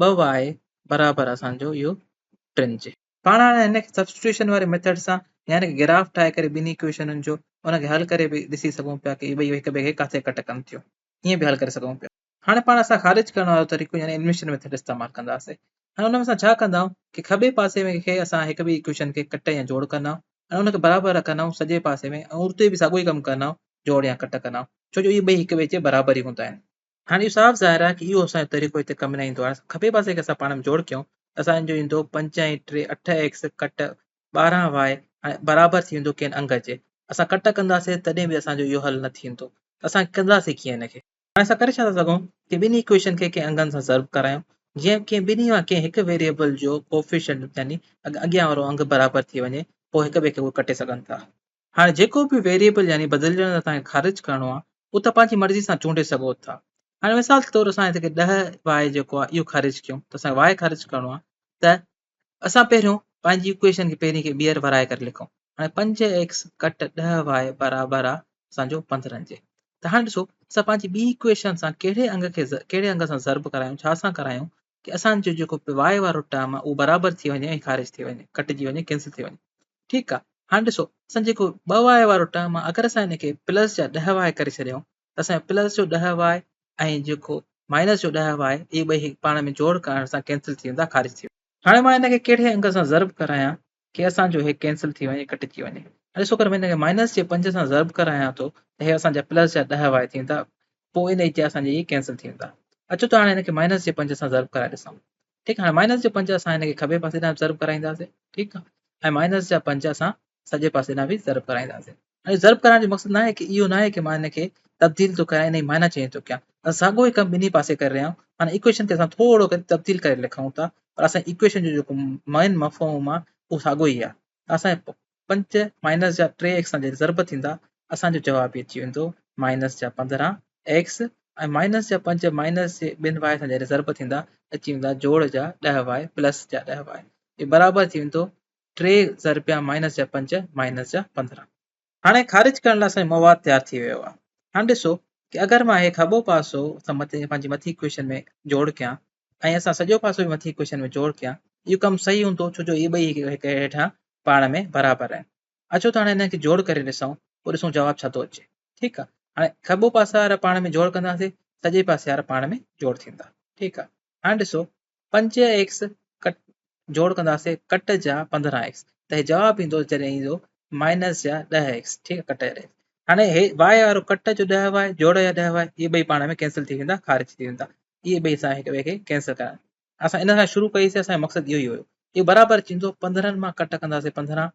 ٻه واء برابر اسان جو اهو ٽن جي. پاڻ هاڻي هن کي سبسٽيوشن واري ميٿڊ سان يا هن کي گراف ٺاهي ڪري ٻنهي ايڪويشنن جو ان کي حل ڪري به ڏسي سگهون پيا ته اهي ٻئي هڪ ٻئي کي ڪاٿي ڪٽ ڪن ٿيون ائين به حل ڪري سگهون پيا. هاڻي پاڻ اسان خارج ڪرڻ وارو طريقو يعني انويشن ميٿڊ استعمال ڪنداسين ۽ ان ۾ اسان ڇا ڪندائون ڪي کٻي پاسي ۾ کي اسان هڪ ٻئي ايڪويشن کي ڪٽ يا جوڙ ڪندائون ۽ ان کي برابر رکندائون سڄي پاسي ۾ ۽ اتي به ساڳيو ئي ڪم ڪندائون جوڙ يا ڪٽ ڪندائون ڇو جو اهي ٻئي هڪ ٻئي جي برابر ئي هوندا آهن. هاڻي اهو صاف ظاهر آهي ته اهو اسان جو طريقو هتي ڪم نه ايندو. هاڻي اسان کٻي پاسي کي اسان پاڻ ۾ جوڙ ڪيون ته اسان جو ايندو پنج ۽ ٽي اٺ ايڪس ڪٽ ٻارهن واء هاڻي برابر ٿي ويندو ڪين انگ جي. اسان ڪٽ ڪنداسين تڏهن به اسان جو اهو حل نه ٿيندو ته اسان ڪنداسين ڪيئن ان کي. هاڻي اسان ڪري ڇا ٿا سگهون ته ٻنهي ايڪويشن کي ڪنهن انگن سان ضرب ڪرايون جيئن ڪنهن ٻنهي مان ڪنهن هڪ ويريبل جو ڪوفيشنٽ يعني اڳيان وارو انگ برابر ٿي وڃي پوء هڪ ٻئي کي اهي ڪٽي سگهن ٿا. هاڻي جيڪو به ويريبل يعني بدلجندڙ توهان کي خارج ڪرڻو آهي اهو توهان پنهنجي مرضي سان چونڊي سگهو ٿا. هاڻي مثال طور اسان هتي ڪي ڏهه واء جيڪو آهي اهو خارج ڪيون ته اسان کي واء خارج ڪرڻو آهي ته اسان پهريون پنهنجي اڪويشن کي پهرين کي ٻيهر ورائي ڪري لکون هاڻي پنج ايڪس ڪٽ ڏهه واء برابر آهي اسان جو پندرهن جي ته هاڻي ڏسو اسان پنهنجي ٻي اڪويشن سان ڪهڙي انگ کي ڪهڙي انگ سان ضرب ڪرايون ڇا سان ڪرايون ڪي اسان جو جيڪو پوائي وارو ٽرم آ اهو برابر ٿي وڃي ۽ خارج ٿي وڃي ڪٽجي وڃي ڪينسل ٿي وڃي ٺيڪ آ هاڻ ڏسو اسان جيڪو ٻه وائي وارو ٽرم آ اگر اسان هن کي پلس جا ڏهه وائي ڪري ڇڏيون ته اسان پلس جو ڏهه وائي ۽ جيڪو مائنس جو ڏهه وائي اهي ٻئي پاڻ ۾ جوڙ ڪرڻ سان ڪينسل ٿي ويندا خارج ٿي ويندا هاڻي مان هن کي ڪهڙي انگ سان ضرب ڪرايان ڪي اسان جو هي ڪينسل ٿي وڃي ڪٽجي وڃي هاڻي ڏسو اگر مان هن کي مائنس جي پنج سان ضرب ڪرايان ٿو ته هي اسان جا پلس جا ڏهه واء ٿيندا پوء ان جي اسان جي ڪينسل ٿي ويندا اچو ته هاڻي هن کي مائنس جي پنج سان ضرب ڪرائي ڏسون ٺيڪ هاڻي مائنس جي پنج اسان هن کي کٻي پاسي ڏانهن ضرب ڪرائينداسين ٺيڪ آهي ۽ مائنس جا پنج اسان سڄي پاسي ڏانهن به ضرب ڪرائينداسين ائين ضرب ڪرڻ جو مقصد ناهي ڪي اهو ناهي ڪي مان هن کي تبديل ٿو ڪيان انهي معنيٰ چينج ٿو ڪيان اسان ساڳيو ئي ڪم ٻنهي پاسي ڪري رهيا آهيون هاڻي ايڪويشن کي اسان ٿورو ڪري تبديل ڪري لکون ٿا پر اسان جي ايڪويشن جو جيڪو مين مفهوم آهي اهو ساڳيو ئي آهي اسان جي پنج مائنس جا ٽي ايڪس سان جڏهن ضرب ٿيندا اسان جو جواب به اچي ويندو مائنس جا پندرهن ايڪس ۽ مائنس جا پنج مائنس جي ٻن واء سان جڏهن ضرب ٿيندا اچي ويندا جوڙ جا ڏهه واء پلس جا ڏهه واء اهي برابر ٿي ويندو ٽي ضربيا مائنس جا پنج مائنس جا پندرهن هاڻي خارج ڪرڻ لاء اسان مواد تيار ٿي ويو آهي هاڻي ڏسو ڪي اگر مان هي کٻو پاسو سان مٿي پنهنجي مٿي اڪويشن ۾ جوڙ ڪيان ۽ اسان سڄو پاسو به مٿي اڪويشن ۾ جوڙ ڪيان اهو ڪم صحيح هوندو ڇو جو اهي ٻئي هڪ هيٺان پاڻ ۾ برابر آهن اچو ته هاڻي هنن کي جوڙ ڪري ڏسون پوء ڏسون جواب ڇا ٿو اچي ٺيڪ آهي هاڻي کٻو پاسا وارا پاڻ ۾ جوڙ ڪنداسين سڄي پاسي وارا پاڻ ۾ جوڙ ٿيندا ٺيڪ آهي هاڻي ڏسو پنج ايڪس ڪٽ جوڙ ڪنداسين ڪٽ جا پندرهن ايڪس ته هي جواب ايندو جڏهن ايندو مائنس جا ڏهه ايڪس ٺيڪ آهي ڪٽ جا هاڻي هي واء وارو ڪٽ جو ڏهه واء جوڙ جا ڏهه واء اهي ٻئي پاڻ ۾ ڪينسل ٿي ويندا خارج ٿي ويندا اهي ٻئي اسان هڪ ٻئي کي ڪينسل ڪرڻ اسان ان کان شروع ڪئيسي اسان جو مقصد اهو ئي هيو اهو برابر ٿيندو پندرهن مان ڪٽ ڪنداسين پندرهن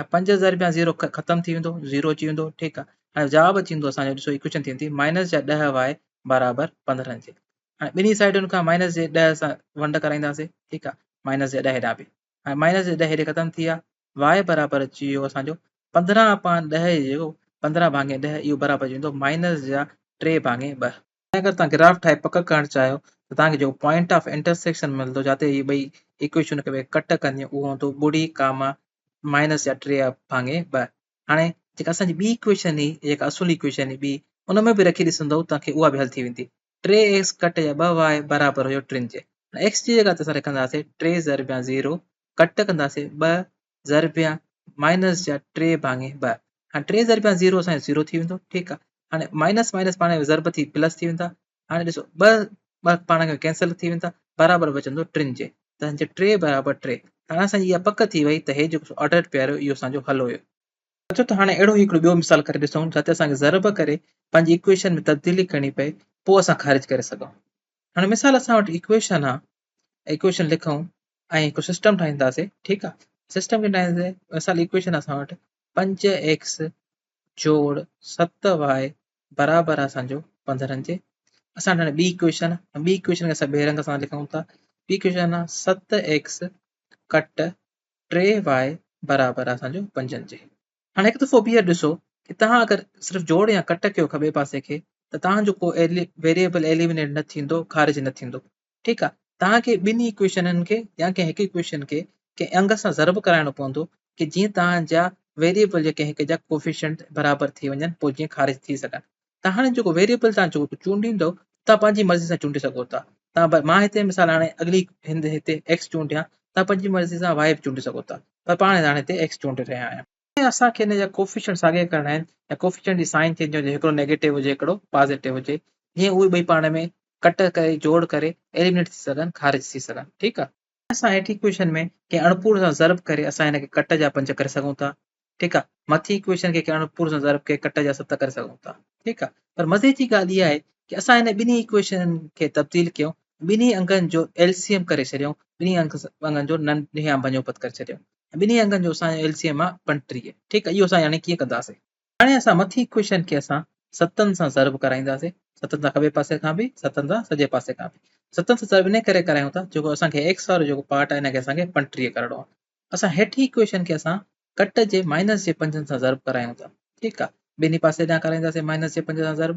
۽ پنج ضرب يا زيرو ختم ٿي ويندو زيرو اچي ويندو ٺيڪ آ هاڻي جواب اچي ويندو اسان جو ڏسو ايڪويشن ٿي ويندي مائنس جا ڏهه وائي برابر پندرهن جي هاڻي ٻنهي سائيڊن کان مائنس جي ڏهه سان ونڊ ڪرائينداسي ٺيڪ آ مائنس جي ڏهه هيڏانهن به هاڻي مائنس جي ڏهه هيڏي ختم ٿي ويا وائي برابر اچي ويو اسان جو پندرهن اپان ڏهه جيڪو پندرهن ڀاڱي ڏهه اهو برابر اچي ويندو مائنس جا ٽي ڀاڱي ٻه جنهن اگر توهان گراف ٺاهي پڪ ڪرڻ چاهيو ته توهان کي جيڪو پوائنٽ آف انٽرسيڪشن ملندو جتي هي ٻئي ايڪويشنون هڪ ٻئي کي ڪٽ ڪنديون اهو هوندو ٻڙي ڪاما مائنس يا ٽي ڀاڱي ٻه هاڻي جيڪا اسان جي ٻي ايڪويشن هي جيڪا اصل ايڪويشن هي ٻي ان ۾ به رکي ڏسندو توهان کي اها به حل ٿي ويندي ٽي ايڪس ڪٽ يا ٻه واء برابر هيو ٽن جي ايڪس جي جڳهه تي اسان لکنداسين ٽي ضرب يا زيرو ڪٽ ڪنداسين ٻه ضربيا مائنس جا ٽي ڀاڱي ٻه هاڻي ٽي ضربيا زيرو سائين زيرو ٿي ويندو ٺيڪ آ هاڻي مائنس مائنس پاڻ ضرب ٿي پلس ٿي ويندا هاڻي ڏسو ٻه ٻه پاڻ کي ڪينسل ٿي ويندا برابر بچندو ٽن جي ته هنجي ٽي برابر ٽي هاڻي اسانجي اها پڪ ٿي وئي ته هي جيڪو آرڊر پيار هيو اهو اسانجو حل هيو اچو ته هاڻي اهڙو هڪڙو ٻيو مثال ڪري ڏسون جتي اسانکي ضرب ڪري پنهنجي ايڪويشن ۾ تبديلي ڪرڻي پئي پوء اسان خارج ڪري سگهون هاڻي مثال اسان وٽ ايڪويشن آ ايڪويشن لکون ۽ هڪ سسٽم ٺاهينداسين ٺيڪ آ سسٽم ڪيئن ٺاهينداسين مثال ايڪويشن آ اسان وٽ پنج ايڪس جوڙ ست واء برابر آ اسانجو پندرهن جي اسان هاڻي ٻي ايڪويشن ٻي ايڪويشن کي اسان ٻئي رنگ سان لکون ٿا ٻي ايڪويشن آ ست ايڪس ڪٽ ٽي واء برابر آ اسانجو پنجن جي هاڻي هڪ دفعو ٻيهر ڏسو ته تهان اگر صرف جوڙ يا ڪٽ ڪيو کٻي پاسي کي ته تهانجو ڪو ويريبل ايليمنيٽ نه ٿيندو خارج نه ٿيندو ٺيڪ آ توهان کي ٻنهي ايڪويشنن کي يا ڪنهن هڪ ايڪويشن کي ڪنهن انگ سان ضرب ڪرائڻو پوندو ڪي جيئن توهان جا ويريبل جا ڪنهن هڪ جا ڪوفيشنٽ برابر ٿي وڃن پوء جيئن خارج ٿي سگهن ته هاڻي جيڪو ويريبل توهان جيڪو چونڊيندو توهان پنهنجي مرضي سان چونڊي سگهو ٿا توهان مان هتي مثال هاڻي اڳلي هند هتي ايڪس چونڊيان توهان پنهنجي مرضي سان واء به چونڊي سگهو ٿا پر پاڻ هاڻي هتي ايڪس چونڊي رهيا آهيان ۽ اسان کي ان جا ڪوفيشنٽ ساڳيا ڪرڻا آهن ۽ ڪوفيشنٽ جي سائن ٿينديون جي هڪڙو نيگيٽو هجي هڪڙو پازيٽو هجي جيئن اهي ٻئي پاڻ ۾ ڪٽ ڪري جوڙ ڪري ايليمنيٽ ٿي سگهن خارج ٿي سگهن ٺيڪ آ. اسان هيٺين اڪويشن ۾ ڪنهن اڻپورن سان ضرب ڪري اسان ان کي ڪٽ جا پنج ڪري سگهون ٿا ٺيڪ آ مٿين اڪويشن کي ڪنهن اڻپورن سان ضرب ڪري ڪٽ جا ست ڪري سگهون ٿا ٺيڪ آ پر مزي جي ڳالهه اها آهي ڪي اسان هن ٻنهي اڪويشنن کي تبديل ڪيون ٻنهي انگن جو LCM ڪري ڇڏيون ٻنهي انگن جو ننهيان بنيوپت ڪري ڇڏيون ٻنهي انگن جو اسان جو LCM آ پنجٽيهه ٺيڪ اهو اسان يعني ڪيئن ڪنداسين هاڻي اسان مٿي ڪوشن کي اسان ستن سان ضرب ڪرائينداسين ستن سان کٻي پاسي کان به ستن سان سڄي پاسي کان به ستن سان ضرب ان ڪري ڪرايون ٿا جيڪو اسان کي ايڪس وارو جيڪو پارٽ آ ان کي اسان کي پنجٽيهه ڪرڻو آ اسان هيٺي ڪوشن کي اسان ڪٽ جي مائنس جي پنجن سان ضرب ڪرايون ٿا ٺيڪ آ ٻنهي پاسي ڏانهن ڪرائينداسين مائنس جي پنج سان ضرب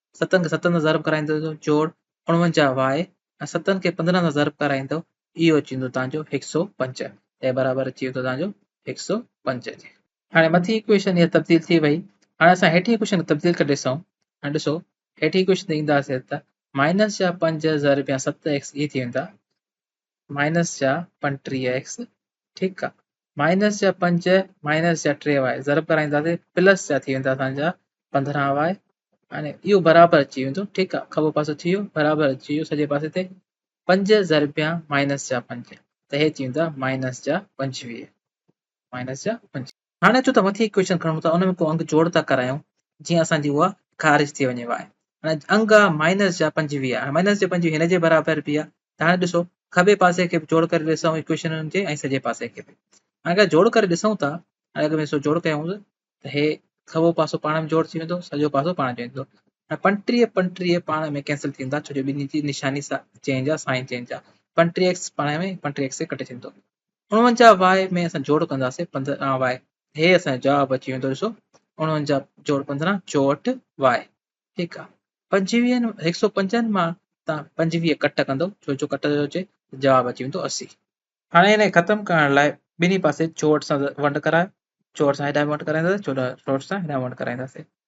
ستن کي ستن سان ضرب ڪرائيندو ته جوڙ اڻونجاهه واء ۽ ستن کي پندرهن سان ضرب ڪرائيندو اهو اچي ويندو توهان جو هڪ سؤ پنج اي برابر اچي ويندو توهان جو هڪ سؤ پنج جي هاڻي مٿين اڪويشن هي تبديل ٿي وئي هاڻي اسان هيٺين اڪويشن کي تبديل ڪري ڏسون هاڻي ڏسو هيٺين اڪويشن تي اينداسي ته مائنس جا پنج ضرب يا ست ايڪس اي ٿي ويندا مائنس جا پنٽيهه ايڪس ٺيڪ آ مائنس جا پنج مائنس جا ٽي وائي ضرب ڪرائينداسي پلس جا ٿي ويندا اسان جا پندرهن وائي هاڻي اهو برابر اچي ويندو ٺيڪ آ کٻو پاسو ٿي ويو برابر اچي ويو سڄي پاسي تي پنج ضربيا مائنس جا پنج ته هي ٿي ويندا مائنس جا پنجويهه مائنس جا پنجويهه هاڻي اچو ته مٿي هڪ ڪويشچن کڻون ٿا ان ۾ ڪو انگ جوڙ ٿا ڪرايون جيئن اسان جي اها خارج ٿي وڃي واء هاڻي انگ آ مائنس جا پنجويهه هاڻي مائنس جا پنجويهه هن جي برابر به آ ته هاڻي ڏسو کٻي پاسي کي به جوڙ ڪري ڏسون اڪويشن ان جي ۽ سڄي پاسي کي به هاڻي اگر جوڙ ڪري ڏسون ٿا هاڻي اگر ڏسو جوڙ ڪيون ته هي کٻو پاسو پاڻ ۾ جوڙ ٿي ويندو سڄو پاسو پاڻ جوڙ ٿيندو هاڻي پنجٽيهه پنجٽيهه پاڻ ۾ ڪينسل ٿيندا ڇو جو ٻنهي جي نشاني چينج آ سائن چينج آ پنجٽيهه ايڪس پاڻ ۾ پنجٽيهه ايڪس کي ڪٽي ڇڏيندو اڻونجاهه واء ۾ اسان جوڙ ڪنداسين پندرهن واء هي اسان جو جواب اچي ويندو ڏسو اڻونجاهه جوڙ پندرهن چوهٺ واء ٺيڪ آ پنجويهن هڪ سؤ پنجن مان تان پنجويهه ڪٽ ڪندو ڇو جو ڪٽ جو اچي جواب اچي ويندو اسي هاڻي هن کي ختم ڪرڻ لاء ٻنهي پاسي چوهٺ سان ونڊ ڪرايو چوهٺ سان هيڏانهن ونڊ ڪرائينداسين چوهٺ سان هيڏانهن ونڊ ڪرائينداسين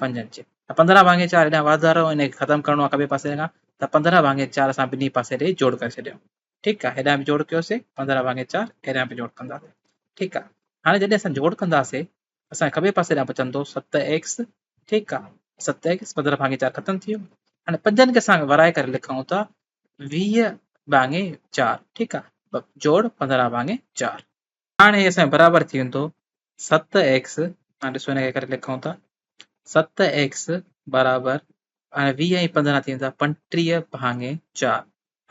پنج انچ ته پندرهن ڀاڱي چار هيڏانهن واڌارو ان کي ختم ڪرڻو آهي کٻي پاسي کان ته پندرهن ڀاڱي چار اسان ٻنهي پاسي ڏيئي جوڙ ڪري ڇڏيو ٺيڪ آهي هيڏانهن به جوڙ ڪيوسي پندرهن ڀاڱي چار هيڏانهن به جوڙ ڪنداسي ٺيڪ آهي هاڻي جڏهن اسان جوڙ ڪنداسي اسان کٻي پاسي ڏانهن بچندو ست ايڪس ٺيڪ آهي ست ايڪس پندرهن ڀاڱي چار ختم ٿي ويو هاڻي پنجن کي اسان ورائي ڪري لکون ٿا ويهه ڀاڱي چار ٺيڪ آهي جوڙ پندرهن ڀاڱي چار هاڻ هي اسان جو برابر ٿي ويندو ست ايڪس هاڻ ڏسو هن کي ڪري لکون ٿا ست ايڪس برابر هاڻي ويهه ۽ پندرهن ٿي ويندا پنٽيهه ڀاڱي چار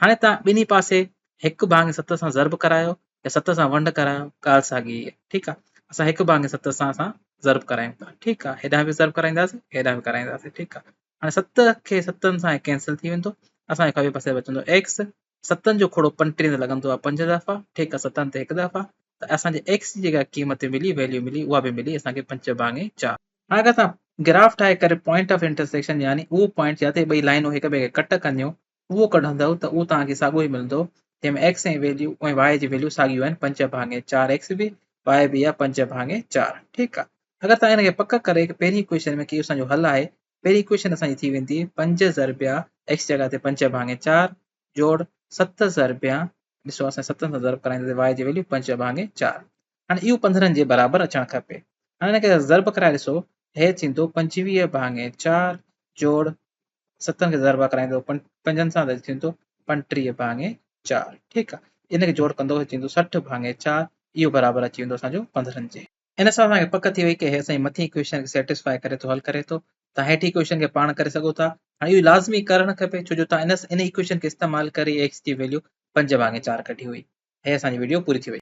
هاڻي تان ٻنهي پاسي هڪ ڀاڱي ست سان ضرب ڪرايو يا ست سان ونڊ ڪرايو ڳالهه ساڳي هي ٺيڪ آهي اسان هڪ ڀاڱي ست سان اسان ضرب ڪرايون ٿا ٺيڪ آهي هيڏانهن به ضرب ڪرائينداسين هيڏانهن به ڪرائينداسين ٺيڪ آهي هاڻي ست کي ستن سان هي ڪينسل ٿي ويندو اسان کي کٻي پاسي بچندو x ستن جو کوڙو پنٽيهن تي لڳندو آهي پنج دفعا ٺيڪ ستن تي هڪ دفعا ته اسان جي x جي جيڪا قيمت ملي ويليو ملي اها به ملي اسان کي پنج ڀاڱي چار هاڻي اگر اسان گراف ٺاهي ڪري پوائنٽ آف انٽرسيڪشن يعني اهو پوائنٽ جتي ٻئي لائنون هڪ ٻئي کي ڪٽ ڪنديون اهو ڪڍندؤ ته اهو توهان کي ساڳيو ئي ملندو جنهن ۾ ايڪس ۽ ويليو ۽ واء جي ويليو ساڳيون آهن پنج ڀاڱي چار ايڪس به واء به آهي پنج ڀاڱي چار ٺيڪ آهي اگر توهان ان کي پڪ ڪري هڪ پهرين اڪويشن ۾ ڪيو اسان جو حل آهي پهرين اڪويشن اسان جي ٿي ويندي پنج ضربيا ايڪس جڳهه تي پنج ڀاڱي چار جوڙ ست ضربيا ڏسو اسان ستن سان ضرب ڪرائينداسين واء جي ويليو پنج ڀاڱي چار هاڻي اهو پنڌرن جي برابر اچڻ کپي. هاڻي ان کي ضرب ڪرائي ڏسو، هيء ٿيندو پنجويهه ڀاڱي چار جوڙ ستن کي ضرب ڪرائيندو پنجن سان ته ٿيندو پنٽيهه ڀاڱي چار ٺيڪ آ. ان کي جوڙ ڪندو هيء ٿيندو سٺ ڀاڱي چار اهو برابر اچي ويندو اسان جو پنڌرن جي. ان سان اسان کي پڪ ٿي وئي ته هيء اسان جي مٿين ايڪويشن کي سيٽسفاء ڪري ٿو حل ڪري ٿو. توهان هيٺين ايڪويشن کي پاڻ ڪري سگهو ٿا. هاڻي اهو لازمي ڪرڻ کپي ڇو جو توهان ان ايڪويشن کي استعمال ڪري ايڪس جي ويليو پنج ڀاڱي چار ڪڍي هئي. هيء اسان جي وڊيو پوري ٿي وئي.